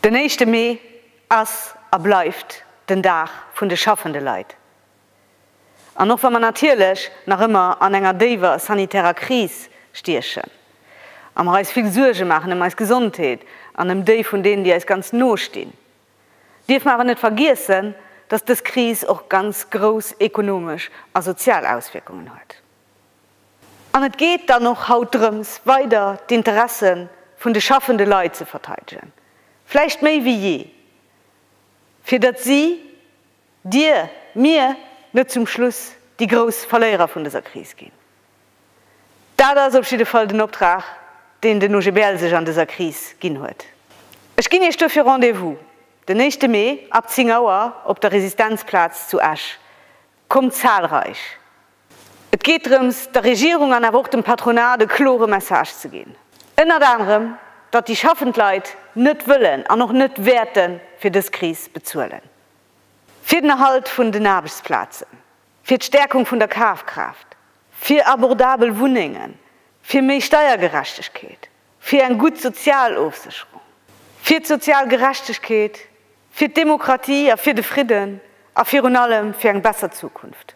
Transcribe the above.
Den éischte Mee ass a bleift den Dag vun de schaffende Leit. An och wa mer natierlech nach ëmmer an enger déiwer sanitärer Kris stiechen a mer eis vill Suerge maachen ëm eis Gesondheet an ëm déi vun deenen, déi eis ganz no stinn, Dierf mer awer net vergiessen, dass dës Kris och ganz grouss ekonomesch a sozial Auswierkungen huet. An et geet dann och haut drëms, weider d'Interesse vun de schaffende Leit ze verteidegen, vläicht méi wéi jee, fir datt si, Dir, mir, net zum Schluss déi grouss Verléierer vun dëser Kris ginn. Dat ass op jidde Fall den Optrag, deen den OGBL sech an dëser Kris ginn huet. Ech ginn Iech duerfir Rendez-vous den éischte Mee ab 10 Auer op der Resistenzplaz zu Esch. Kommt zahlreich! Et geet drëms, der Regierung an awer och dem Patronat e klore Message ze ginn. Ënnert anerem, datt déi schaffend Leit net wëllen an och net wäerte fir dës Kris bezuelen. fir den Erhalt vun den Aarbechtsplazen, fir d'Stärkung vun der Kafkraaft, fir abordabel Wunnengen, fir méi Steiergerechtegkeet, fir eng gutt sozial Ofsécherung, fir d'sozial Gerechtegkeet, fir d'Demokratie a fir de Fridden a virun allem fir eng besser Zukunft.